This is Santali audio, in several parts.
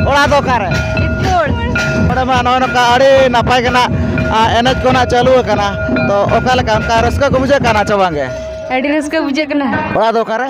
ᱚᱲᱟᱜ ᱫᱚ ᱚᱠᱟᱨᱮ ᱚᱸᱰᱮ ᱢᱟ ᱱᱚᱜᱼᱚᱭ ᱱᱚᱝᱠᱟ ᱟᱹᱰᱤ ᱱᱟᱯᱟᱭ ᱜᱮ ᱱᱟᱜ ᱮᱱᱮᱡ ᱠᱚ ᱱᱟᱜ ᱪᱟᱹᱞᱩ ᱟᱠᱟᱱᱟ ᱛᱚ ᱚᱠᱟ ᱞᱮᱠᱟ ᱚᱱᱠᱟ ᱨᱟᱹᱥᱠᱟᱹ ᱠᱚ ᱵᱩᱡᱷᱟᱹᱜ ᱠᱟᱱᱟ ᱪᱮ ᱵᱟᱝᱜᱮ ᱟᱹᱰᱤ ᱨᱟᱹᱥᱠᱟᱹ ᱵᱩᱡᱷᱟᱹᱜ ᱠᱟᱱᱟ ᱚᱲᱟᱜ ᱫᱚ ᱚᱠᱟᱨᱮ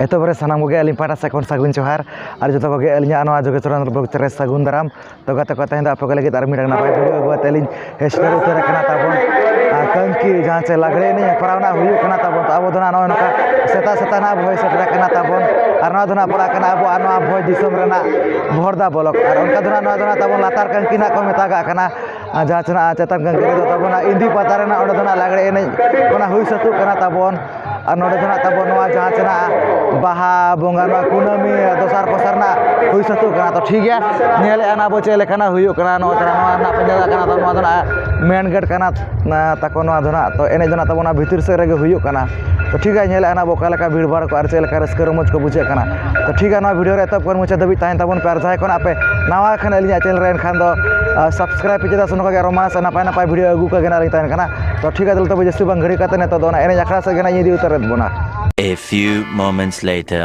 ᱮᱛᱚᱦᱚᱵ ᱨᱮ ᱥᱟᱱᱟᱢ ᱠᱚᱜᱮ ᱟᱹᱞᱤᱧ ᱯᱟᱦᱴᱟ ᱥᱮᱫ ᱠᱷᱚᱱ ᱥᱟᱹᱜᱩᱱ ᱡᱚᱦᱟᱨ ᱟᱨ ᱡᱚᱛᱚ ᱠᱚᱜᱮ ᱟᱹᱞᱤᱧᱟᱜ ᱱᱚᱣᱟ ᱡᱳᱜᱮᱥ ᱪᱚᱨᱚᱱ ᱵᱞᱚᱜᱽ ᱪᱮᱱᱮᱞ ᱨᱮ ᱥᱟᱹᱜᱩᱱ ᱫᱟᱨᱟᱢ ᱛᱚ ᱜᱟᱛᱮ ᱠᱚ ᱛᱮᱦᱮᱧ ᱫᱚ ᱟᱯᱮ ᱠᱚ ᱞᱟᱹᱜᱤᱫ ᱟᱨ ᱢᱤᱫᱴᱟᱝ ᱱᱟᱯᱟᱭ ᱵᱷᱤᱰᱤᱭᱳ ᱟᱹᱜᱩ ᱠᱟᱛᱮᱫ ᱞᱤᱧ ᱥᱮᱴᱮᱨ ᱩᱛᱟᱹᱨ ᱟᱠᱟᱱᱟ ᱛᱟᱵᱚᱱ ᱟᱨ ᱠᱟᱹᱝᱠᱤ ᱡᱟᱦᱟᱸ ᱪᱮ ᱞᱟᱜᱽᱲᱮ ᱮᱱᱮᱡ ᱦᱮᱯᱨᱟᱣ ᱱᱟᱦᱟᱜ ᱦᱩᱭᱩᱜ ᱠᱟᱱᱟ ᱛᱟᱵᱚᱱ ᱛᱚ ᱟᱵᱚ ᱫᱚ ᱱᱟᱦᱟᱜ ᱱᱚᱜᱼᱚᱭ ᱱᱚᱝᱠᱟ ᱥᱮᱛᱟᱜ ᱥᱮᱛᱟᱜ ᱱᱟᱦᱟᱜ ᱵᱚᱱ ᱥᱮᱴᱮᱨ ᱟᱠᱟᱱᱟ ᱛᱟᱵᱚᱱ ᱟᱨ ᱱᱚᱣᱟ ᱫᱚ ᱱᱟᱦᱟᱜ ᱯᱟᱲᱟᱜ ᱠᱟᱱᱟ ᱟᱵᱚᱣᱟᱜ ᱱᱚᱣᱟ ᱵᱷᱚᱸᱡᱽ ᱫᱤᱥᱚᱢ ᱨᱮᱱᱟᱜ ᱵᱚᱦᱚᱲᱫᱟ ᱵᱞᱚᱠ ᱟᱨ ᱚᱱᱠᱟ ᱫᱚ ᱱᱟᱦᱟᱜ ᱱᱚᱣᱟ ᱫᱚ ᱱᱟᱦᱟᱜ ᱛᱟᱵᱚᱱ ᱞᱟᱛᱟᱨ ᱠᱟᱹᱝᱠᱤ ᱱᱟᱦᱟᱜ ᱠᱚ ᱢᱮᱛᱟᱜᱟᱜ ᱠᱟᱱᱟ ᱟᱨ ᱡᱟᱦᱟᱸ ᱛᱤᱱᱟᱹᱜ ᱪᱮᱛᱟᱱ ᱠᱟᱹᱨᱤ ᱫᱚ ᱛᱟᱵᱚᱱᱟ ᱤᱱᱫᱤ ᱯᱟᱛᱟ ᱨᱮᱱᱟᱜ ᱚᱸᱰᱮ ᱫᱚ ᱦᱟᱸᱜ ᱞᱟᱜᱽᱬᱮ ᱮᱱᱮᱡ ᱚᱱᱟ ᱦᱩᱭ ᱥᱟᱹᱛᱚᱜ ᱠᱟᱱᱟ ᱛᱟᱵᱚᱱ ᱟᱨ ᱱᱚᱰᱮ ᱫᱚ ᱦᱟᱸᱜ ᱛᱟᱵᱚᱱ ᱱᱚᱣᱟ ᱡᱟᱦᱟᱸ ᱛᱤᱱᱟᱹᱜ ᱵᱟᱦᱟ ᱵᱚᱸᱜᱟ ᱱᱚᱣᱟ ᱠᱩᱱᱟᱹᱢᱤ ᱫᱚᱥᱟᱨ ᱯᱚᱥᱟᱨ ᱨᱮᱱᱟᱜ ᱦᱩᱭ ᱥᱟᱹᱛᱚᱜ ᱠᱟᱱᱟ ᱛᱚ ᱴᱷᱤᱠ ᱜᱮᱭᱟ ᱧᱮᱞᱮᱫᱼᱟ ᱱᱟᱵᱚᱱ ᱪᱮᱫ ᱞᱮᱠᱟᱱᱟᱜ ᱦᱩᱭᱩᱜ ᱠᱟᱱᱟ ᱱᱚᱣᱟ ᱫᱚ ᱱᱚᱣᱟ ᱨᱮᱱᱟᱜ ᱯᱮᱱᱰᱮᱞ ᱠᱟᱱᱟ ᱱᱚᱣᱟ ᱫᱚ ᱦᱟᱸᱜ ᱢᱮᱱ ᱜᱮᱴ ᱠᱟᱱᱟ ᱛᱟᱠᱚ ᱱᱚᱣᱟ ᱫᱚ ᱦᱟᱸᱜ ᱛᱚ ᱮᱱᱮᱡ ᱫᱚ ᱦᱟᱸᱜ ᱛᱟᱵᱚᱱ ᱱᱚᱣᱟ ᱵᱷᱤᱛᱤᱨ ᱥᱮᱫ ᱨᱮᱜᱮ ᱦᱩᱭᱩᱜ ᱠᱟᱱᱟ ᱛᱚ ᱴᱷᱤᱠ ᱜᱮᱭᱟ ᱧᱮᱞ ᱟᱞᱟᱝ ᱦᱟᱸᱜ ᱚᱠᱟ ᱞᱮᱠᱟ ᱵᱷᱤᱲᱼᱵᱷᱟᱲ ᱠᱚ ᱟᱨ ᱪᱮᱫ ᱞᱮᱠᱟ ᱨᱟᱹᱥᱠᱟᱹ ᱨᱚᱢᱚᱡᱽ ᱠᱚ ᱵᱩᱡᱷᱟᱹᱜ ᱠᱟᱱᱟ ᱛᱚ ᱴᱷᱤᱠ ᱜᱮᱭᱟ ᱱᱚᱣᱟ ᱵᱷᱤᱰᱭᱳ ᱨᱮ ᱮᱛᱚᱦᱚᱵ ᱠᱷᱚᱱ ᱢᱩᱪᱟᱹᱫ ᱫᱷᱟᱹᱵᱤᱡ ᱛᱟᱦᱮᱱ ᱛᱟᱵᱚᱱ ᱯᱮ ᱟᱨ ᱡᱟᱦᱟᱸᱭ ᱠᱷᱚᱱᱟᱜ ᱯᱮ ᱱᱟᱣᱟ ᱠᱷᱟᱱ ᱟᱹᱞᱤᱧᱟᱜ ᱪᱮᱱᱮᱞ ᱨᱮ ᱮᱱᱠᱷᱟᱱ ᱫᱚ ᱥᱟᱵᱥᱠᱨᱟᱭᱤᱵᱽ ᱯᱮ ᱪᱮᱫᱟᱜ ᱥᱮ ᱱᱚᱝᱠᱟ ᱜᱮ ᱟᱨᱚ ᱢᱟᱥᱮ ᱱᱟᱯᱟᱭ ᱱᱟᱯᱟᱭ ᱵᱷᱤᱰᱭᱳ ᱟᱹᱜᱩ ᱠᱟᱜᱮ ᱱᱟᱦᱟᱜ ᱞᱤᱧ ᱛᱟᱦᱮᱱ ᱠᱟᱱᱟ ᱛᱚ ᱴᱷᱤᱠ ᱜᱮᱭᱟ ᱛᱚᱵᱮ ᱡᱟᱹᱥᱛᱤ ᱵᱟᱝ ᱜᱷᱟᱹᱲᱤᱠ ᱠᱟᱛᱮᱫ ᱱᱤᱛᱚᱜ ᱫᱚ ᱚᱱᱟ ᱮᱱᱮᱡ ᱟᱠᱷᱲᱟ ᱥᱮᱫ ᱜᱮ ᱱᱟᱦᱟᱜ ᱤᱧ ᱤᱫᱤ ᱩᱛᱟᱹᱨᱮᱫ ᱵᱚᱱᱟ A few moments later.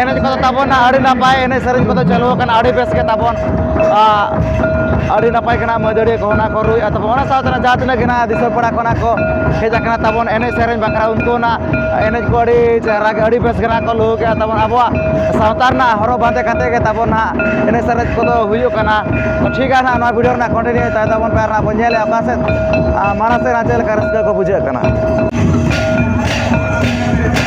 ᱮᱱᱮᱡ ᱠᱚᱫᱚ ᱛᱟᱵᱚᱱ ᱟᱹᱰᱤ ᱱᱟᱯᱟᱭ ᱮᱱᱮᱡ ᱥᱮᱨᱮᱧ ᱠᱚᱫᱚ ᱪᱟᱹᱞᱩ ᱟᱠᱟᱱᱟ ᱟᱹᱰᱤ ᱵᱮᱥ ᱜᱮ ᱛᱟᱵᱚᱱ ᱟᱹᱰᱤ ᱱᱟᱯᱟᱭ ᱜᱮ ᱦᱟᱸᱜ ᱢᱟᱹᱫᱟᱹᱲᱤᱭᱟᱹ ᱠᱚ ᱚᱱᱟ ᱠᱚ ᱨᱩᱭᱮᱫᱼᱟ ᱛᱟᱵᱚᱱ ᱚᱱᱟ ᱥᱟᱶᱛᱮ ᱦᱟᱸᱜ ᱡᱟᱦᱟᱸ ᱛᱤᱱᱟᱹᱜ ᱜᱮ ᱦᱟᱸᱜ ᱫᱤᱥᱚᱢ ᱯᱟᱲᱟ ᱠᱷᱚᱱᱟᱜ ᱠᱚ ᱦᱮᱡ ᱟᱠᱟᱱᱟ ᱛᱟᱵᱚᱱ ᱮᱱᱮᱡ ᱥᱮᱨᱮᱧ ᱵᱟᱠᱷᱨᱟ ᱩᱱᱠᱩ ᱚᱱᱟ ᱮᱱᱮᱡ ᱠᱚ ᱟᱹᱰᱤ ᱪᱮᱦᱨᱟ ᱜᱮ ᱟᱹᱰᱤ ᱵᱮᱥ ᱜᱮ ᱦᱟᱸᱜ ᱠᱚ ᱞᱩᱦᱩᱠ ᱮᱫᱼᱟ ᱛᱟᱵᱚᱱ ᱟᱵᱚᱣᱟᱜ ᱥᱟᱶᱛᱟ ᱨᱮᱱᱟᱜ ᱦᱚᱨᱚᱜ ᱵᱟᱸᱫᱮ ᱠᱟᱛᱮᱫ ᱜᱮ ᱛᱟᱵᱚᱱ ᱦᱟᱸᱜ ᱮᱱᱮᱡ ᱥᱮᱨᱮᱧ ᱠᱚᱫᱚ ᱦᱩᱭᱩᱜ ᱠᱟᱱᱟ ᱛᱳ ᱴᱷᱤᱠ ᱜᱮᱭᱟ ᱦᱟᱸᱜ ᱱᱚᱣᱟ ᱵᱷᱤᱰᱭᱳ ᱨᱮᱱᱟᱜ ᱠᱚᱱᱴᱤᱱᱤᱭᱩ ᱛᱟᱦᱮᱱ ᱛᱟᱵᱚᱱ ᱯᱮ ᱟᱨ ᱦᱟᱸᱜ ᱵᱚᱱ ᱧᱮᱞᱮᱫᱼᱟ ᱚᱠᱟ ᱥᱮᱫ ᱢᱟᱲᱟᱝ ᱥᱮᱫ ᱦᱟᱸᱜ ᱪᱮᱫ ᱞᱮᱠᱟ ᱨᱟᱹᱥᱠᱟᱹ ᱠᱚ ᱵᱩᱡᱷᱟᱹᱜ ᱠᱟᱱᱟ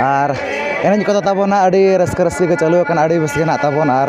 ᱟᱨ ᱮᱱᱮᱡ ᱠᱚᱫᱚ ᱛᱟᱵᱚᱱ ᱦᱟᱸᱜ ᱟᱹᱰᱤ ᱨᱟᱹᱥᱠᱟᱹ ᱨᱟᱹᱥᱠᱤ ᱜᱮ ᱪᱟᱹᱞᱩ ᱟᱠᱟᱱᱟ ᱟᱹᱰᱤ ᱵᱮᱥ ᱜᱮ ᱦᱮᱱᱟᱜ ᱛᱟᱵᱚᱱᱟ ᱟᱨ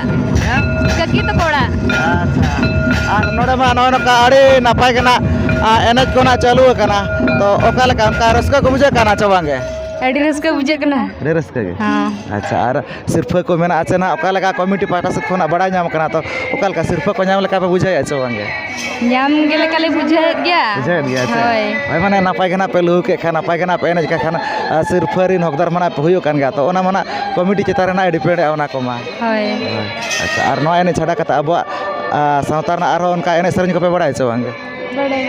ᱠᱟᱹᱠᱤ ᱛᱟᱠᱚ ᱚᱲᱟᱜ ᱟᱪᱪᱷᱟ ᱟᱨ ᱱᱚᱰᱮ ᱢᱟ ᱱᱚᱜᱼᱚᱭ ᱱᱚᱝᱠᱟ ᱟᱹᱰᱤ ᱱᱟᱯᱟᱭ ᱜᱮ ᱱᱟᱜ ᱮᱱᱮᱡ ᱠᱚ ᱱᱟᱜ ᱪᱟᱹᱞᱩ ᱟᱠᱟᱱᱟ ᱛᱚ ᱚᱠᱟ ᱞᱮᱠᱟ ᱚᱱᱠᱟ ᱨᱟᱹᱥᱠᱟᱹ ᱠᱚ ᱵᱩᱡᱷᱟᱹᱜ ᱠᱟᱱᱟ ᱪᱮ ᱵᱟᱝᱜᱮ ᱟᱹᱰᱤ ᱨᱟᱹᱥᱠᱟᱹ ᱵᱩᱡᱷᱟᱹᱜ ᱠᱟᱱᱟ ᱟᱹᱰᱤ ᱨᱟᱹᱥᱠᱟᱹ ᱜᱮ ᱟᱪᱪᱷᱟ ᱟᱨ ᱥᱤᱨᱯᱷᱟᱹ ᱠᱚ ᱢᱮᱱᱟᱜᱼᱟ ᱪᱮ ᱱᱟᱜ ᱚᱠᱟ ᱞᱮᱠᱟ ᱠᱚᱢᱤᱴᱤ ᱯᱟᱦᱴᱟ ᱥᱮᱫ ᱠᱷᱚᱱᱟᱜ ᱵᱟᱲᱟᱭ ᱧᱟᱢ ᱠᱟᱱᱟ ᱛᱚ ᱚᱠᱟ ᱞᱮᱠᱟ ᱥᱤᱨᱯᱷᱟᱹ ᱠᱚ ᱧᱟᱢ ᱞᱮᱠᱟ ᱯᱮ ᱵᱩᱡᱷᱟᱹᱣᱮᱫᱼᱟ ᱪᱮ ᱵᱟᱝᱜᱮ ᱧᱟᱢ ᱜᱮ ᱞᱮᱠᱟ ᱞᱮ ᱵᱩᱡᱷᱟᱹᱣᱮᱫ ᱜᱮᱭᱟ ᱵᱩᱡᱷᱟᱹᱣᱮᱫ ᱜᱮᱭᱟ ᱟᱪᱪᱷᱟ ᱦᱳᱭ ᱦᱳᱭ ᱢᱟᱱᱮ ᱱᱟᱯᱟᱭ ᱜᱮ ᱱᱟᱜ ᱯᱮ ᱞᱩᱦᱩᱠ ᱮᱫ ᱠᱷᱟᱱ ᱱᱟᱯᱟᱭ ᱜᱮ ᱱᱟᱜ ᱯᱮ ᱮᱱᱮᱡ ᱠᱟᱱ ᱠᱷᱟᱱ ᱥᱤᱨᱯᱷᱟᱹ ᱨᱮᱱ ᱦᱚᱠᱫᱟᱨ ᱢᱟ ᱱᱟᱜ ᱯᱮ ᱦᱩᱭᱩᱜ ᱠᱟᱱ ᱜᱮᱭᱟ ᱛᱚ ᱚᱱᱟ ᱢᱟ ᱱᱟᱜ ᱠᱚᱢᱤᱴᱤ ᱪᱮᱛᱟᱱ ᱨᱮ ᱱᱟᱜ ᱰᱤᱯᱮᱱᱰ ᱮᱫᱼᱟ ᱚᱱᱟ ᱠᱚᱢᱟ ᱦᱳᱭ ᱟᱪᱪᱷᱟ ᱟᱨ ᱱᱚᱣᱟ ᱮᱱᱮᱡ ᱪᱷᱟᱰᱟ ᱠᱟᱛᱮᱫ ᱟᱵᱚᱣᱟᱜ ᱥᱟᱶᱛᱟ ᱨᱮᱱᱟᱜ ᱟᱨᱦᱚᱸ ᱚᱱᱠᱟ ᱮᱱᱮᱡ ᱥᱮᱨᱮᱧ ᱠᱚᱯᱮ ᱵᱟᱲᱟᱭᱟ ᱥᱮ ᱵᱟᱝᱜᱮ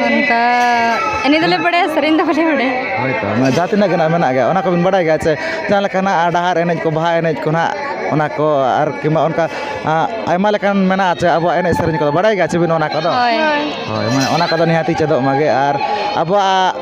ᱚᱱᱠᱟ ᱮᱱᱮᱡ ᱫᱚᱞᱮ ᱵᱟᱲᱟᱭᱟ ᱥᱮᱨᱮᱧ ᱫᱚ ᱵᱟᱞᱮ ᱵᱟᱲᱟᱭᱟ ᱦᱳᱭ ᱛᱚ ᱢᱟᱱᱮ ᱡᱟᱦᱟᱸ ᱛᱤᱱᱟᱹᱜ ᱜᱮ ᱱᱟᱜ ᱢᱮᱱᱟᱜ ᱜᱮᱭᱟ ᱚᱱᱟ ᱠᱚᱵᱤᱱ ᱵᱟᱲᱟᱭ ᱜᱮᱭᱟ ᱥᱮ ᱡᱟᱦᱟᱸ ᱞᱮᱠᱟ ᱱᱟᱜ ᱰᱟᱦᱟᱨ ᱮᱱᱮᱡ ᱠᱚ ᱵᱟᱦᱟ ᱮᱱᱮᱡ ᱠᱚ ᱱᱟᱜ ᱚᱱᱟ ᱠᱚ ᱟᱨ ᱠᱤᱢᱵᱟ ᱚᱱᱠᱟ ᱟᱭᱢᱟ ᱞᱮᱠᱟᱱ ᱢᱮᱱᱟᱜᱼᱟ ᱥᱮ ᱟᱵᱚᱣᱟᱜ ᱮᱱᱮᱡ ᱥᱮᱨᱮᱧ ᱠᱚᱫᱚ ᱵᱟᱲᱟᱭ ᱜᱮᱭᱟ ᱥᱮ ᱵᱤᱱ ᱚᱱᱟ ᱠᱚᱫᱚ ᱦᱳᱭ ᱦᱳᱭ ᱢᱟᱱᱮ ᱚᱱᱟ ᱠᱚᱫᱚ ᱱᱤᱦᱟᱹᱛ ᱜᱮ ᱪᱮᱫᱚᱜ ᱢᱟᱜᱮ ᱟᱨ ᱟᱵᱚᱣᱟᱜ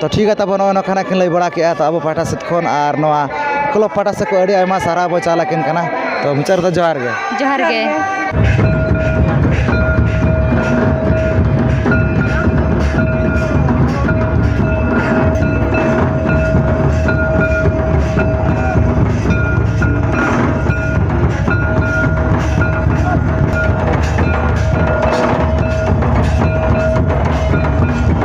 ᱛᱚ ᱴᱷᱤᱠ ᱜᱮᱭᱟ ᱛᱟᱵᱚᱱ ᱱᱚᱜᱼᱚᱸᱭ ᱱᱚᱝᱠᱟᱱᱟᱜ ᱠᱤᱱ ᱞᱟᱹᱭ ᱵᱟᱲᱟ ᱠᱮᱜᱼᱟ ᱛᱚ ᱟᱵᱚ ᱯᱟᱦᱴᱟ ᱥᱮᱫ ᱠᱷᱚᱱ ᱟᱨ ᱱᱚᱣᱟ ᱠᱞᱟᱵᱽ ᱯᱟᱦᱴᱟ ᱥᱮᱫ ᱠᱷᱚᱱ ᱟᱹᱰᱤ ᱟᱭᱢᱟ ᱥᱟᱨᱦᱟᱣ ᱵᱚᱱ ᱪᱟᱞ ᱟᱹᱠᱤᱱ ᱠᱟᱱᱟ ᱛᱚ ᱢᱩᱪᱟᱹᱫ ᱨᱮᱫᱚ ᱡᱚᱦᱟᱨ ᱜᱮ ᱡᱚᱦᱟᱨ ᱜᱮ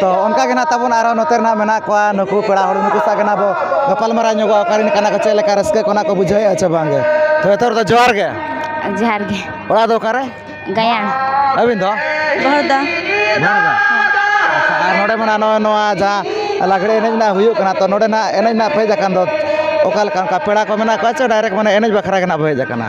ᱛᱚ ᱚᱱᱠᱟ ᱜᱮ ᱱᱟᱜ ᱛᱟᱵᱚᱱ ᱟᱨᱚ ᱱᱚᱛᱮ ᱨᱮᱱᱟᱜ ᱢᱮᱱᱟᱜ ᱠᱚᱣᱟ ᱱᱩᱠᱩ ᱯᱮᱲᱟ ᱦᱚᱲ ᱱᱩᱠᱩ ᱥᱟᱜ ᱜᱮ ᱱᱟᱜ ᱵᱚ ᱜᱟᱯᱟᱞᱢᱟᱨᱟᱣ ᱧᱚᱜᱚᱜᱼᱟ ᱚᱠᱟᱨᱮᱱ ᱠᱟᱱᱟ ᱠᱚ ᱪᱮᱫ ᱞᱮᱠᱟ ᱨᱟᱹᱥᱠᱟᱹ ᱠᱚ ᱱᱟᱜ ᱠᱚ ᱵᱩᱡᱷᱟᱹᱣᱮᱫᱼᱟ ᱥᱮ ᱵᱟᱝᱜᱮ ᱛᱚ ᱡᱚᱛᱚ ᱦᱚᱲ ᱫᱚ ᱡᱚᱦᱟᱨ ᱜᱮ ᱡᱚᱦᱟᱨ ᱜᱮ ᱚᱲᱟᱜ ᱫᱚ ᱚᱠᱟᱨᱮ ᱜᱟᱭᱟᱱ ᱟᱹᱵᱤᱱ ᱫᱚ ᱵᱚᱦᱚᱲᱫᱟ ᱵᱚᱦᱚᱲᱫᱟ ᱟᱪᱪᱷᱟ ᱟᱨ ᱱᱚᱰᱮ ᱢᱮᱱᱟᱜᱼᱟ ᱱᱚᱜᱼᱚᱭ ᱱᱚᱣᱟ ᱡᱟᱦᱟᱸ ᱞᱟᱜᱽᱲᱮ ᱮᱱᱮᱡ ᱨᱮᱱᱟᱜ ᱦᱩᱭᱩᱜ ᱠᱟᱱᱟ ᱛᱚ ᱱᱚᱰᱮ ᱱᱟᱜ ᱮᱱᱮᱡ ᱨᱮᱱᱟᱜ ᱯᱮ ᱦᱮᱡ ᱟᱠᱟᱱ ᱫᱚ ᱚᱠᱟ ᱞᱮᱠᱟ ᱚᱱᱠᱟ ᱯᱮᱲᱟ ᱠᱚ ᱢᱮᱱᱟᱜ ᱠᱚᱣᱟ ᱪᱮ ᱰᱟᱭᱨᱮᱠᱴ ᱢᱟᱱᱮ ᱮᱱᱮᱡ ᱵᱟᱠᱷᱨᱟ ᱜᱮ ᱱᱟᱜ ᱵᱚ ᱦᱮᱡ ᱟᱠᱟᱱᱟ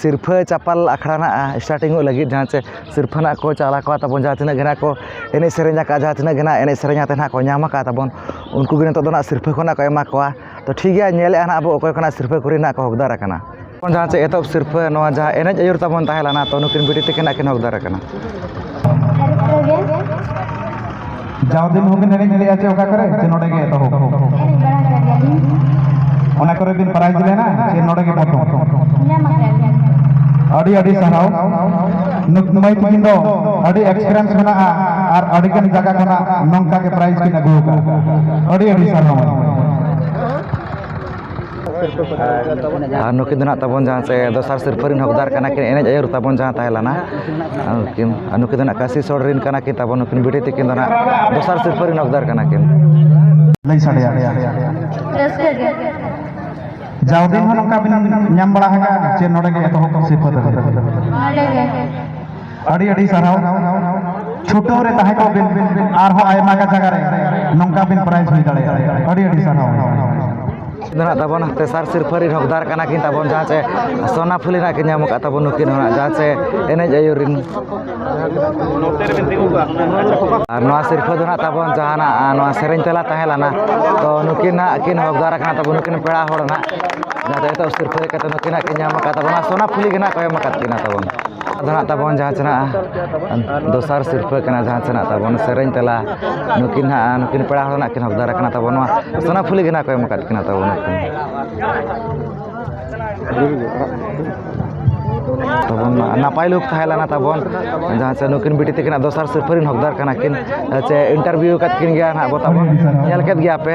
ᱥᱤᱨᱯᱷᱟᱹ ᱪᱟᱯᱟᱞ ᱟᱠᱷᱲᱟ ᱱᱟᱦᱟᱜ ᱮᱥᱴᱟᱨᱴᱤᱝᱚᱜ ᱞᱟᱹᱜᱤᱫ ᱡᱟᱦᱟᱸ ᱪᱮ ᱥᱤᱨᱯᱷᱟᱹ ᱱᱟᱦᱟᱜ ᱠᱚ ᱪᱟᱞ ᱟᱠᱚᱣᱟ ᱛᱟᱵᱚᱱ ᱡᱟᱦᱟᱸ ᱛᱤᱱᱟᱹᱜ ᱜᱮ ᱱᱟᱦᱟᱜ ᱠᱚ ᱮᱱᱮᱡ ᱥᱮᱨᱮᱧ ᱟᱠᱟᱫ ᱡᱟᱦᱟᱸ ᱛᱤᱱᱟᱹᱜ ᱜᱮ ᱱᱟᱦᱟᱜ ᱮᱱᱮᱡ ᱥᱮᱨᱮᱧ ᱠᱟᱛᱮᱫ ᱱᱟᱦᱟᱜ ᱠᱚ ᱧᱟᱢ ᱟᱠᱟᱫ ᱛᱟᱵᱚᱱ ᱩᱱᱠᱩ ᱜᱮ ᱱᱤᱛᱚᱜ ᱫᱚ ᱱᱟᱦᱟᱜ ᱥᱤᱨᱯᱷᱟᱹ ᱠᱚ ᱱᱟᱦᱟᱜ ᱠᱚ ᱮᱢᱟ ᱠᱚᱣᱟ ᱛᱳ ᱴᱷᱤᱠ ᱜᱮᱭᱟ ᱧᱮᱞᱮᱫᱼᱟ ᱱᱟᱦᱟᱜ ᱵᱚᱱ ᱚᱠᱚᱭ ᱠᱚ ᱱᱟᱦᱟᱜ ᱥᱤᱨᱯᱷᱟᱹ ᱠᱚᱨᱮ ᱱᱟᱦᱟᱜ ᱠᱚ ᱦᱳᱠᱫᱟᱨ ᱟᱠᱟᱱᱟ ᱡᱟᱦᱟᱸ ᱪᱮ ᱮᱛᱚᱦᱚᱵ ᱥᱤᱨᱯᱷᱟᱹ ᱱᱚᱣᱟ ᱡᱟᱦᱟᱸ ᱮᱱᱮᱡ ᱟᱹᱭᱩᱨ ᱛᱟᱵᱚᱱ ᱛᱟᱦᱮᱸ ᱞᱮᱱᱟ ᱛᱳ ᱱᱩᱠᱤᱱ ᱵᱤᱴᱤ ᱛᱟᱹᱠᱤᱱ ᱱᱟᱦᱟᱜ ᱠᱤᱱ ᱦᱳᱠᱫᱟᱨ ᱟᱠᱟᱱᱟ ᱡᱟᱣ ᱫᱤᱱ ᱦᱚᱸ ᱵᱤᱱ ᱮᱱᱮᱡ ᱞᱮᱜᱼᱟ ᱪᱮ ᱚᱠᱟ ᱠᱚᱨᱮ ᱪᱮ ᱱᱚᱰᱮ ᱜᱮ ᱮᱛᱚᱦᱚᱵ ᱮᱱᱮᱡ ᱵᱟᱲᱟ ᱟᱠᱟᱫ ᱜᱮᱭᱟᱞᱤᱧ ᱚᱱᱟ ᱠᱚᱨᱮ ᱵᱤᱱ ᱯᱨᱟᱭᱤᱡᱽ ᱞᱮᱱᱟ ᱪᱮ ᱱᱚᱰᱮ ᱜᱮ ᱯᱨᱚᱛᱷᱚᱢ ᱧᱟᱢ ᱟᱠᱟᱫ ᱜᱮᱭᱟᱞᱤᱧ ᱟᱹᱰᱤ ᱟᱹᱰᱤ ᱥᱟᱨᱦᱟᱣ ᱱᱩᱠᱢᱟᱹᱭ ᱛᱤᱠᱤᱱ ᱫᱚ ᱟᱹᱰᱤ ᱮᱠᱥᱯᱮᱨᱤᱭᱮᱱᱥ ᱢᱮᱱᱟᱜᱼᱟ ᱟᱨ ᱟᱹᱰᱤ ᱜᱟᱱ ᱡᱟᱭᱜᱟ ᱠᱷᱚᱱᱟᱜ ᱱᱚᱝᱠᱟ ᱜᱮ ᱯᱨᱟᱭᱤᱡᱽ ᱠᱤᱱ ᱟᱹᱜᱩ ᱟᱠᱟᱫᱼᱟ ᱟᱹᱰᱤ ᱟᱹᱰᱤ ᱥᱟᱨᱦᱟᱣ ᱟᱨ ᱱᱩᱠᱤᱱ ᱫᱚ ᱦᱟᱸᱜ ᱛᱟᱵᱚᱱ ᱡᱟᱦᱟᱸ ᱥᱮ ᱫᱚᱥᱟᱨ ᱥᱤᱨᱯᱟᱹ ᱨᱮᱱ ᱦᱚᱠᱫᱟᱨ ᱠᱟᱱᱟ ᱠᱤᱱ ᱮᱱᱮᱡ ᱟᱹᱭᱩᱨ ᱛᱟᱵᱚᱱ ᱡᱟᱦᱟᱸ ᱛᱟᱦᱮᱸ ᱞᱮᱱᱟ ᱩᱱᱠᱤᱱ ᱟᱨ ᱱᱩᱠᱤᱱ ᱫᱚ ᱦᱟᱸᱜ ᱠᱟᱹᱥᱤ ᱥᱳᱲ ᱨᱮᱱ ᱠᱟᱱᱟ ᱠᱤᱱ ᱛᱟᱵᱚᱱ ᱱᱩᱠᱤᱱ ᱵᱤᱴᱤ ᱛᱟᱹᱠᱤᱱ ᱫᱚ ᱦᱟᱸᱜ ᱫᱚᱥᱟᱨ ᱥᱤᱨᱯᱟᱹ ᱨᱮᱱ ᱦᱚᱠᱫᱟᱨ ᱠᱟᱱᱟ ᱠᱤᱱ ᱞᱟᱹᱭ ᱥᱟᱰᱮᱭᱟ ᱨᱟᱹᱥᱠᱟᱹ ᱜᱮ ᱡᱟᱣ ᱫᱤᱱ ᱦᱚᱸ ᱱᱚᱝᱠᱟ ᱵᱤᱱ ᱧᱟᱢ ᱵᱟᱲᱟ ᱟᱠᱟᱫᱼᱟ ᱪᱮ ᱱᱚᱰᱮ ᱜᱮ ᱮᱛᱚᱦᱚᱵ ᱥᱤᱨᱯᱟᱹ ᱫᱚ ᱱᱚᱰᱮ ᱜᱮ ᱟᱹᱰᱤ ᱟᱹᱰᱤ ᱥᱟᱨᱦᱟᱣ ᱪᱷᱩᱴᱟᱹᱣ ᱨᱮ ᱛᱟᱦᱮᱸ ᱠᱚᱜ ᱵᱤᱱ ᱟᱨᱦᱚᱸ ᱟᱭᱢᱟ ᱜᱟᱱ ᱡᱟᱭᱜᱟ ᱨᱮ ᱱᱚᱝᱠᱟ ᱵᱤᱱ ᱯᱨᱟᱭᱤᱡᱽ ᱦᱩᱭ ᱫᱟᱲᱮᱭᱟᱜᱼᱟ ᱟᱹᱰᱤ ᱟᱹᱰᱤ ᱥᱟᱨᱦᱟᱣ ᱢᱮᱱᱟᱜ ᱛᱟᱵᱚᱱᱟ ᱛᱮᱥᱟᱨ ᱥᱤᱨᱯᱷᱟᱹ ᱨᱤᱱ ᱦᱚᱠᱫᱟᱨ ᱠᱟᱱᱟ ᱠᱤᱱ ᱛᱟᱵᱚᱱ ᱡᱟᱦᱟᱸ ᱪᱮ ᱥᱚᱱᱟ ᱯᱷᱩᱞᱤ ᱨᱮᱱᱟᱜ ᱠᱤᱱ ᱧᱟᱢ ᱟᱠᱟᱫ ᱛᱟᱵᱚᱱ ᱱᱩᱠᱤᱱ ᱦᱚᱸ ᱡᱟᱦᱟᱸ ᱪᱮ ᱮᱱᱮᱡ ᱟᱹᱭᱩᱨ ᱨᱤᱱ ᱟᱨ ᱱᱚᱣᱟ ᱥᱤᱨᱯᱷᱟᱹ ᱫᱚ ᱱᱟᱜ ᱛᱟᱵᱚᱱ ᱡᱟᱦᱟᱱᱟᱜ ᱱᱚᱣᱟ ᱥᱮᱨᱮᱧ ᱛᱮᱞᱟ ᱛᱟᱦᱮᱸ ᱞᱮᱱᱟ ᱛᱚ ᱱᱩᱠᱤᱱ ᱱᱟᱜ ᱠᱤᱱ ᱦᱚᱠᱫᱟᱨ ᱠᱟᱱᱟ ᱛᱟᱵᱚᱱ ᱱᱩᱠᱤᱱ ᱯᱮᱲᱟ ᱦᱚᱲ ᱱᱟᱜ ᱡᱟᱦᱟᱸ ᱫᱚ ᱱᱤᱛᱚᱜ ᱥᱤᱨᱯᱷᱟᱹ ᱦᱮᱡ ᱠᱟᱛᱮᱫ ᱱᱩᱠᱤᱱᱟᱜ ᱠᱤᱱ ᱧᱟᱢ ᱟᱠᱟᱫ ᱛᱟᱵᱚᱱᱟ ᱥᱚᱱᱟ ᱯᱷᱩᱞᱤ ᱜᱮ ᱱᱟᱜ ᱠᱚ ᱮᱢ ᱟᱠᱟᱫ ᱠᱤᱱᱟ ᱛᱟᱵᱚᱱ ᱟᱫᱚ ᱦᱟᱸᱜ ᱛᱟᱵᱚᱱ ᱡᱟᱦᱟᱸ ᱛᱤᱱᱟᱹᱜ ᱫᱚᱥᱟᱨ ᱥᱤᱨᱯᱟᱹ ᱠᱟᱱᱟ ᱡᱟᱦᱟᱸ ᱛᱤᱱᱟᱹᱜ ᱛᱟᱵᱚᱱ ᱥᱮᱨᱮᱧ ᱛᱮᱞᱟ ᱱᱩᱠᱤᱱ ᱦᱟᱸᱜ ᱱᱩᱠᱤᱱ ᱯᱮᱲᱟ ᱦᱚᱲ ᱦᱟᱸᱜ ᱠᱤᱱ ᱦᱚᱠᱫᱟᱨ ᱠᱟᱱᱟ ᱛᱟᱵᱚᱱ ᱱᱚᱣᱟ ᱥᱳᱱᱟᱯᱷᱩᱞᱤ ᱜᱮ ᱦᱟᱸᱜ ᱠᱚ ᱮᱢ ᱠᱟᱜ ᱠᱤᱱᱟ ᱛᱟᱵᱚᱱ ᱱᱩᱠᱤᱱ ᱛᱟᱵᱚᱱ ᱱᱟᱯᱟᱭ ᱞᱩᱠ ᱛᱟᱦᱮᱸ ᱞᱮᱱᱟ ᱛᱟᱵᱚᱱ ᱡᱟᱦᱟᱸ ᱥᱮ ᱱᱩᱠᱤᱱ ᱵᱤᱴᱤ ᱛᱟᱹᱠᱤᱱᱟᱜ ᱫᱚᱥᱟᱨ ᱥᱤᱨᱯᱟᱹ ᱨᱮᱱ ᱦᱚᱠᱫᱟᱨ ᱠᱟᱱᱟ ᱠᱤᱱ ᱥᱮ ᱤᱱᱴᱟᱨᱵᱷᱤᱭᱩ ᱠᱟᱜ ᱠᱤᱱ ᱜᱮᱭᱟ ᱦᱟᱸᱜ ᱵᱚᱱ ᱧᱮᱞ ᱠᱮᱜ ᱜᱮᱭᱟ ᱯᱮ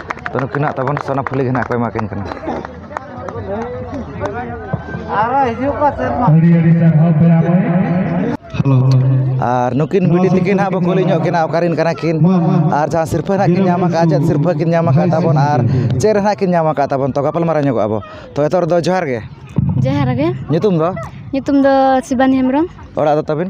ᱛᱚ ᱱᱩᱠᱤᱱᱟᱜ ᱛᱟᱵᱚᱱ ᱥᱚᱱᱟᱯᱷᱩᱞᱤ ᱜᱮ ᱱᱟᱦᱟᱜ ᱠᱚ ᱮᱢᱟ ᱠᱤᱱ ᱠᱟᱱᱟ ᱟᱨ ᱱᱩᱠᱤᱱ ᱵᱤᱴᱤ ᱛᱟᱹᱠᱤᱱ ᱦᱟᱸᱜ ᱵᱚᱱ ᱠᱩᱞᱤ ᱧᱚᱜ ᱠᱤᱱᱟ ᱚᱠᱟᱨᱮᱱ ᱠᱟᱱᱟ ᱠᱤᱱ ᱟᱨ ᱡᱟᱦᱟᱸ ᱥᱤᱨᱯᱟᱹ ᱦᱟᱸᱜ ᱠᱤᱱ ᱧᱟᱢ ᱟᱠᱟᱫᱼᱟ ᱪᱮᱫ ᱥᱤᱨᱯᱟᱹ ᱠᱤᱱ ᱧᱟᱢ ᱟᱠᱟᱫ ᱛᱟᱵᱚᱱ ᱟᱨ ᱪᱮᱫ ᱨᱮ ᱦᱟᱸᱜ ᱠᱤᱱ ᱧᱟᱢ ᱟᱠᱟᱫ ᱛᱟᱵᱚᱱ ᱛᱚ ᱜᱟᱯᱟᱞᱢᱟᱨᱟᱣ ᱧᱚᱜᱚᱜ ᱟᱵᱚᱱ ᱛᱚ ᱱᱤᱛᱚᱜ ᱨᱮᱫᱚ ᱡᱚᱦᱟᱨ ᱜᱮ ᱡᱚᱦᱟᱨ ᱜᱮ ᱧᱩᱛᱩᱢ ᱫᱚ ᱧᱩᱛᱩᱢ ᱫᱚ ᱥᱤᱵᱟᱱᱤ ᱦᱮᱢᱵᱨᱚᱢ ᱚᱲᱟᱜ ᱫᱚ ᱛᱟᱹᱵᱤᱱ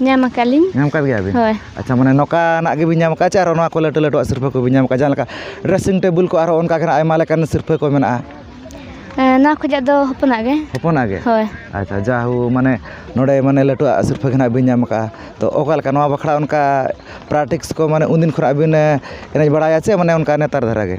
ᱧᱟᱢ ᱟᱠᱟᱫ ᱞᱤᱧ ᱧᱟᱢ ᱟᱠᱟᱫ ᱜᱮᱭᱟ ᱵᱤᱱ ᱦᱳᱭ ᱟᱪᱪᱷᱟ ᱢᱟᱱᱮ ᱱᱚᱝᱠᱟᱱᱟᱜ ᱜᱮᱵᱤᱱ ᱧᱟᱢ ᱟᱠᱟᱫᱼᱟ ᱪᱮ ᱟᱨᱚ ᱱᱚᱣᱟ ᱠᱚ ᱞᱟᱹᱴᱩ ᱞᱟᱹᱴᱩᱣᱟᱜ ᱥᱤᱨᱯᱟᱹ ᱠᱚᱵᱤᱱ ᱧᱟᱢ ᱟᱠᱟᱫᱼᱟ ᱡᱟᱦᱟᱸ ᱞᱮᱠᱟ ᱰᱨᱮᱥᱤᱝ ᱴᱮᱵᱤᱞ ᱠᱚ ᱟᱨᱚ ᱚᱱᱠᱟ ᱜᱮ ᱦᱟᱸᱜ ᱟᱭᱢᱟ ᱞᱮᱠᱟᱱ ᱥᱤᱨᱯᱟᱹ ᱠᱚ ᱢᱮᱱᱟᱜᱼᱟ ᱱᱚᱣᱟ ᱠᱷᱚᱱᱟᱜ ᱫᱚ ᱦᱚᱯᱚᱱᱟᱜ ᱜᱮ ᱦᱚᱯᱚᱱᱟᱜ ᱜᱮ ᱦᱳᱭ ᱟᱪᱪᱷᱟ ᱡᱟ ᱦᱳ ᱢᱟᱱᱮ ᱱᱚᱰᱮ ᱢᱟᱱᱮ ᱞᱟᱹᱴᱩᱣᱟᱜ ᱥᱤᱨᱯᱟᱹ ᱜᱮ ᱦᱟᱸᱜ ᱵᱤᱱ ᱧᱟᱢ ᱟᱠᱟᱫᱼᱟ ᱛᱳ ᱚᱠᱟ ᱞᱮᱠᱟ ᱱᱚᱣᱟ ᱵᱟᱠᱷᱨᱟ ᱚᱱᱠᱟ ᱯᱨᱮᱠᱴᱤᱥ ᱠᱚ ᱢᱟᱱᱮ ᱩᱱ ᱫᱤᱱ ᱠᱷᱚᱱᱟᱜ ᱵᱤᱱ ᱮᱱᱮᱡ ᱵᱟᱲᱟᱭᱟ ᱪᱮ ᱢᱟᱱᱮ ᱚᱱᱠᱟ ᱱᱮᱛᱟᱨ ᱫᱷᱟᱨᱟ ᱜᱮ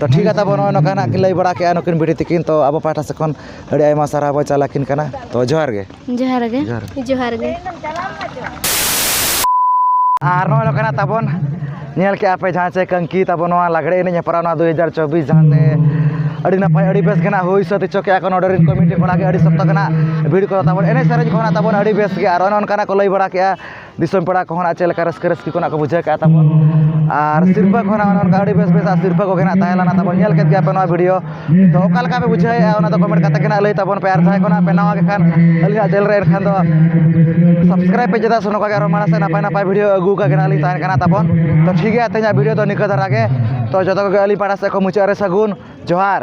ᱛᱚ ᱴᱷᱤᱠ ᱜᱮᱭᱟ ᱛᱟᱵᱚᱱ ᱱᱚᱜᱼᱚᱭ ᱱᱚᱝᱠᱟ ᱱᱟᱦᱟᱜ ᱠᱤᱱ ᱞᱟᱹᱭ ᱵᱟᱲᱟ ᱠᱮᱫᱼᱟ ᱱᱩᱠᱤᱱ ᱵᱩᱰᱷᱤ ᱛᱤᱠᱤᱱ ᱛᱚ ᱟᱵᱚ ᱯᱟᱦᱴᱟ ᱥᱮᱫ ᱠᱷᱚᱱ ᱟᱹᱰᱤ ᱟᱭᱢᱟ ᱥᱟᱨᱦᱟᱣ ᱵᱚᱱ ᱪᱟᱞ ᱟᱹᱠᱤᱱ ᱠᱟᱱᱟ ᱛᱚ ᱡᱚᱦᱟᱨ ᱜᱮ ᱡᱚᱦᱟᱨ ᱜᱮ ᱡᱚᱦᱟᱨ ᱜᱮ ᱡᱚᱦᱟᱨ ᱜᱮ ᱟᱨ ᱱᱚᱜᱼᱚᱭ ᱱᱚᱝᱠᱟ ᱱᱟᱦᱟᱜ ᱛᱟᱵᱚᱱ ᱧᱮᱞ ᱠᱮᱫᱼᱟ ᱯᱮ ᱡᱟᱦᱟᱸ ᱪᱮ ᱠᱟᱹᱝᱠᱤ ᱛᱟᱵᱚᱱ ᱱᱚᱣᱟ ᱞᱟᱜᱽᱲᱮ ᱮᱱᱮᱡ ᱦᱮᱯᱨᱟᱣ ᱱᱚᱣᱟ ᱫᱩ ᱦᱟᱡᱟᱨ ᱪᱚᱵᱵᱤᱥ ᱡᱟᱦᱟᱸ ᱛᱮ ᱟᱹᱰᱤ ᱱᱟᱯᱟᱭ ᱟᱹᱰᱤ ᱵᱮᱥ ᱜᱮ ᱱᱟᱦᱟᱜ ᱦᱩᱭ ᱥᱟᱹᱛ ᱦᱚᱪᱚ ᱠᱮᱫᱼᱟ ᱠᱚ ᱱᱚᱰᱮ ᱨᱮᱱ ᱠᱚᱢᱤᱴᱤ ᱠᱚᱲᱟ ᱜᱮ ᱟᱹᱰᱤ ᱥᱚᱠᱛᱚ ᱜᱮ ᱱᱟᱦᱟᱜ ᱵᱷᱤᱲ ᱠᱚ ᱛᱟᱵᱚᱱ ᱮᱱᱮᱡ ᱥᱮᱨᱮᱧ ᱠᱚ ᱦᱚᱸ ᱛᱟᱵᱚᱱ ᱟᱹᱰᱤ ᱵᱮᱥ ᱜᱮ ᱟᱨ ᱚᱱᱮ ᱚᱱᱠᱟᱱᱟᱜ ᱠᱚ ᱞᱟᱹᱭ ᱵᱟᱲᱟ ᱠᱮᱫᱼᱟ ᱫᱤᱥᱚᱢ ᱯᱮᱲᱟ ᱠᱚᱦᱚᱸ ᱱᱟᱜ ᱪᱮᱫ ᱞᱮᱠᱟ ᱨᱟᱹᱥᱠᱟᱹ ᱨᱟᱹᱥᱠᱤ ᱠᱚ ᱱᱟᱜ ᱠᱚ ᱵᱩᱡᱷᱟᱹᱣ ᱠᱮᱜᱼᱟ ᱛᱟᱵᱚᱱ ᱟᱨ ᱥᱤᱨᱯᱟᱹ ᱠᱚᱦᱚᱸ ᱱᱟᱜ ᱚᱱᱮ ᱚᱱᱠᱟ ᱟᱹᱰᱤ ᱵᱮᱥ ᱵᱮᱥᱟᱜ ᱥᱤᱨᱯᱟᱹ ᱠᱚᱜᱮ ᱱᱟᱜ ᱛᱟᱦᱮᱸ ᱞᱮᱱᱟ ᱛᱟᱵᱚᱱ ᱧᱮᱞ ᱠᱮᱜ ᱜᱮᱭᱟᱯᱮ ᱱᱚᱣᱟ ᱵᱷᱤᱰᱭᱳ ᱛᱚ ᱚᱠᱟ ᱞᱮᱠᱟ ᱯᱮ ᱵᱩᱡᱷᱟᱹᱣᱮᱜᱼᱟ ᱚᱱᱟ ᱫᱚ ᱠᱚᱢᱮᱱᱴ ᱠᱟᱛᱮᱫ ᱜᱮ ᱱᱟᱜ ᱞᱟᱹᱭ ᱛᱟᱵᱚᱱ ᱯᱮ ᱟᱨ ᱡᱟᱦᱟᱸᱭ ᱠᱚ ᱱᱟᱜ ᱯᱮ ᱱᱟᱣᱟ ᱜᱮ ᱠᱷᱟᱱ ᱟᱹᱞᱤᱧᱟᱜ ᱪᱮᱱᱮᱞ ᱨᱮ ᱮᱱᱠᱷᱟᱱ ᱫᱚ ᱥᱟᱵᱥᱠᱨᱟᱭᱤᱵᱽ ᱯᱮ ᱪᱮᱫᱟᱜ ᱥᱮ ᱱᱚᱝᱠᱟ ᱜᱮ ᱟᱨᱚ ᱢᱟᱲᱟᱝ ᱥᱮᱫ ᱱᱟᱯᱟᱭ ᱱᱟᱯᱟᱭ ᱵᱷᱤᱰᱭᱳ ᱟᱹᱜᱩ ᱠᱟᱜ ᱜᱮ ᱱᱟᱜ ᱞᱤᱧ ᱛᱟᱦᱮᱱ ᱠᱟᱱᱟ ᱛᱟᱵᱚᱱ ᱛᱚ ᱴᱷᱤᱠ ᱜᱮᱭᱟ ᱛᱮᱦᱮᱧᱟᱜ ᱵᱷᱤᱰᱭᱳ ᱫᱚ ᱱᱤᱝᱠᱟᱹ ᱫᱷᱟᱨᱟ ᱜᱮ ᱛᱚ ᱡᱚᱛᱚ ᱠᱚᱜᱮ ᱟᱹᱞᱤᱧ ᱯᱟᱦᱴᱟ ᱥᱮᱫ ᱠᱷᱚᱱ ᱢᱩᱪᱟᱹᱫ ᱨᱮ ᱥᱟᱹᱜᱩᱱ ᱡᱚᱦᱟᱨ